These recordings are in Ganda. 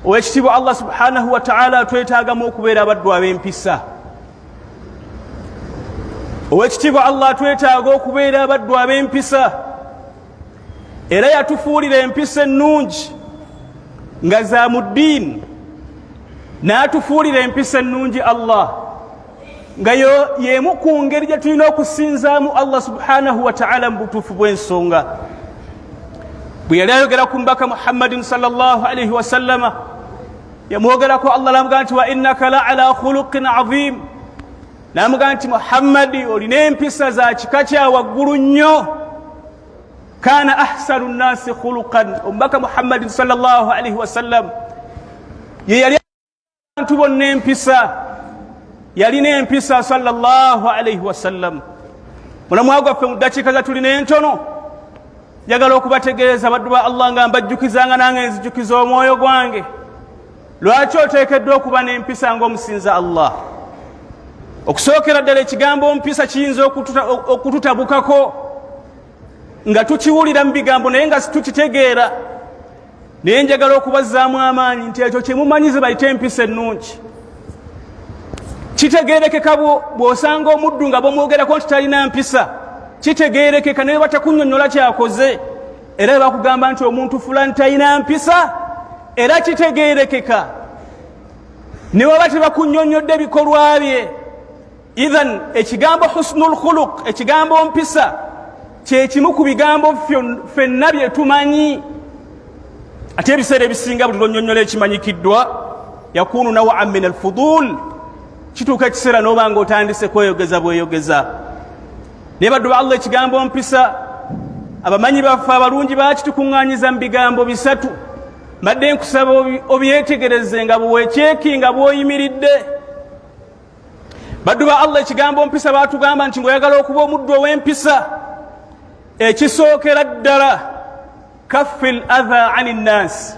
owekitiibwa allah subhanahu wataala twetaagamu okubeera abaddu ab'empisa owekitiibwa allah twetaaga okubeera abaddu ab'empisa era yatufuulira empisa ennungi nga za mu ddiini n'atufuulira empisa ennungi allah nga yo y'emu ku ngeri gye tulina okusinzaamu allah subhanahu wataala mu butuufu bw'ensonga bwe yali ayogera ku mbaka muhammadin salllahalaihi wasallama yamwogerako allah namugaa nti wa innaka la ala khuluqin azimu namugaa nti muhammadi olina empisa za kika kya waggulu nnyo kana ahsanu nnasi khuluqan omubaka muhammadin salllah alaihi wasallam yeyali abantu bonna empisa yalina empisa salllahu alaihi wasallam mulamwa gwaffe mu ddakiika za tulina entono njagala okubategeeza baddu ba allah nga mbajjukizanga nange nzijukiza omwoyo gwange lwaki oteekeddwa okuba n'empisa ngaomusinza allah okusookera ddala ekigambo mpisa kiyinza okututabukako nga tukiwulira mu bigambo naye nga situkitegeera naye njagala okubazzaamu amaanyi nti ekyo kyemumanyi zibayite empisa ennungi kitegeerekeka bw'osanga omuddu nga bamwogerako nti talina mpisa kitegeerekeka naye batakunyonyola kyakoze era bakugamba nti omuntu fulani talina mpisa era kitegeerekeka ne baba tebakunyonyodde bikolwa bye idhan ekigambo husnul khuluq ekigambo mpisa kyekimu ku bigambo fenna bye tumanyi ate ebiseera ebisinga buli lwonyonyola ekimanyikiddwa yakunu nawaan min alfudul kituuka ekiseera noba nga otandise kweyogeza bweyogeza naye baddu ba allah ekigambo mpisa abamanyi baffe abalungi bakitukuŋŋanyiza mu bigambo bisatu mbadde nkusaba obyetegereze nga bwekyekinga bwoyimiridde baddu ba allah ekigambo mpisa baatugamba nti ngaoyagala okuba omuddu ow'empisa ekisookera ddala kaffi l atha ani nnaasi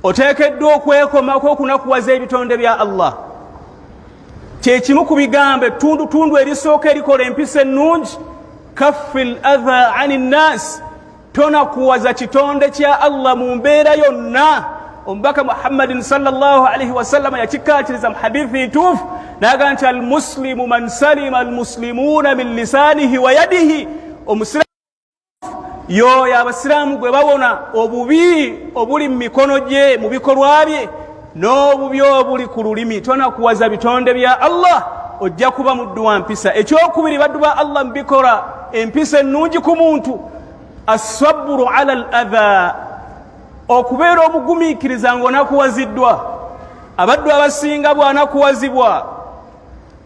oteekeddwa okwekomako okunakuwaza ebitonde bya allah kyekimu ku bigambo ettundutundu erisooka erikola empisa ennungi kaffi l atha ani nnaasi tonakuwaza kitonde kya allah mu mbeera yonna omubaka muhammadin salaalii wasallama yakikkaatiriza mu hadithi ntuufu naga nti almuslimu man salima almuslimuuna min lisaanihi wa yadihi omusiraamu yooyo abasiraamu gwe bawona obubi obuli mu mikono gye mu bikolwa bye n'obubi obuli ku lulimi tonakuwaza bitonde bya allah ojja kuba muddu wa mpisa ekyokubiri baddu ba allah mubikola empisa ennungi ku muntu assaburu ala al adha okubeera omugumiikiriza ng'onakuwaziddwa abaddu abasinga bw'anakuwazibwa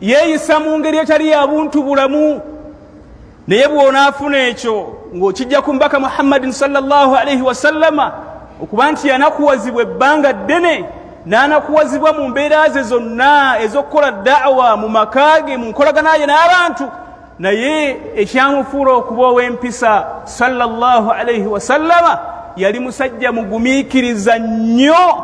yeeyisa mu ngeri etali ya buntu bulamu naye bw'onaafuna ekyo ng'okijja ku mbaka muhammadin salllahu alaihi wasallama okuba nti yanakuwazibwa ebbanga ddene n'anakuwazibwa mu mbeera ze zonna ez'okukola daawa mu maka ge mu nkolagana ye n'abantu naye ekyamufuula okuba ow'empisa salllahu alaihi wasallama yali musajja mugumiikiriza nnyo